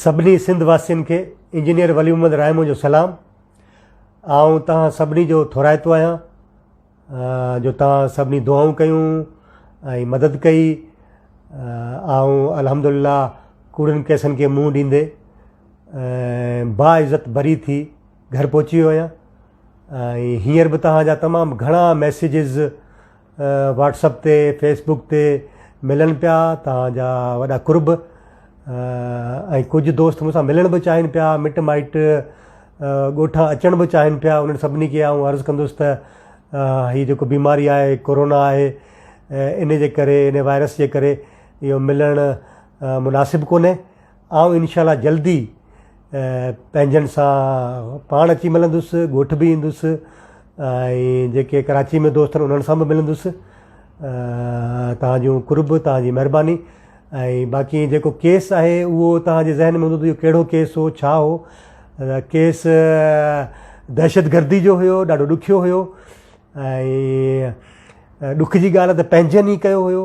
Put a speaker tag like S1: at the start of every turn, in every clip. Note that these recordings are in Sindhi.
S1: سڀني سنڌ واسين کي انجنيئر ولي محمد رائمو جو سلام آئون تان سڀني جو ٿورائتو آهيان جو تان سڀني دعائون ڪيون ۽ مدد ڪئي آئون الحمد لله ڪوڙن ڪيسن کي منهن ڏيندي با عزت بري ٿي گهر پهچي ويو آهيان ۽ هينئر به تان جا تمام گهڻا ميسيجز واٽس اپ تي فيس بوڪ تي ملن پيا توهان جا وڏا قرب ۽ ڪجهه دوست مون سان ملڻ به چاهين پيا مٽ مائٽ ڳوٺان اچڻ به چاهين پيا انهن سڀني کي آئون عرض ڪندس ته هي جيڪو بيماري آهي ڪورونا آهي ان جي ڪري ان وائرس جي ڪري اهو ملڻ مناسب ڪونهي آئون انشاء الله جلدي پنهنجن سان پاڻ اچي ملندس ڳوٺ به ايندس ۽ جيڪي ڪراچي ۾ دوست آهن انهن سان به ملندس تنهنجو قرب تنهنجي مهرباني ۽ باقي جيڪو ڪيس آهي اهو تنهنجي ذهن ۾ هوندو ڪهڙو ڪيس هو ڇا هو ڪيس دهشت گردي جو هيو ڏاڍو ڏکيو هيو ۽ ڏک جي ڳالهه ته پنهنجن ئي ڪيو هيو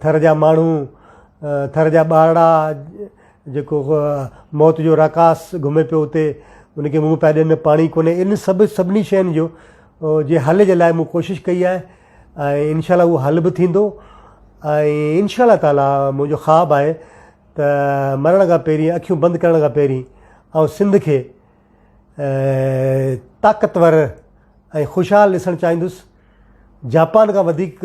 S1: ٿر جا ماڻهو، ٿر جا ٻارڙا جيڪو موت جو راڪاس گهمي پيو اتي، ان کي منهن پيا ڏين نه پاڻي ڪونهي ان سڀ سڀني شين جو جي حل جي لاء مون ڪوشش ڪئي آهي ۽ انشاء الله اهو حل به ٿيندو ۽ انشاء الله تعاليٰ منهنجو خواب آهي ته مرڻ کان پهرين اکيون بند ڪرڻ کان پهرين آئون سنڌ کي طاقتور ۽ خوشحال ڏسڻ چاهيندس جاپان کان وڌيڪ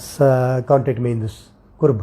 S1: س ڪانٽيڪٽ ۾ ايندس قرب.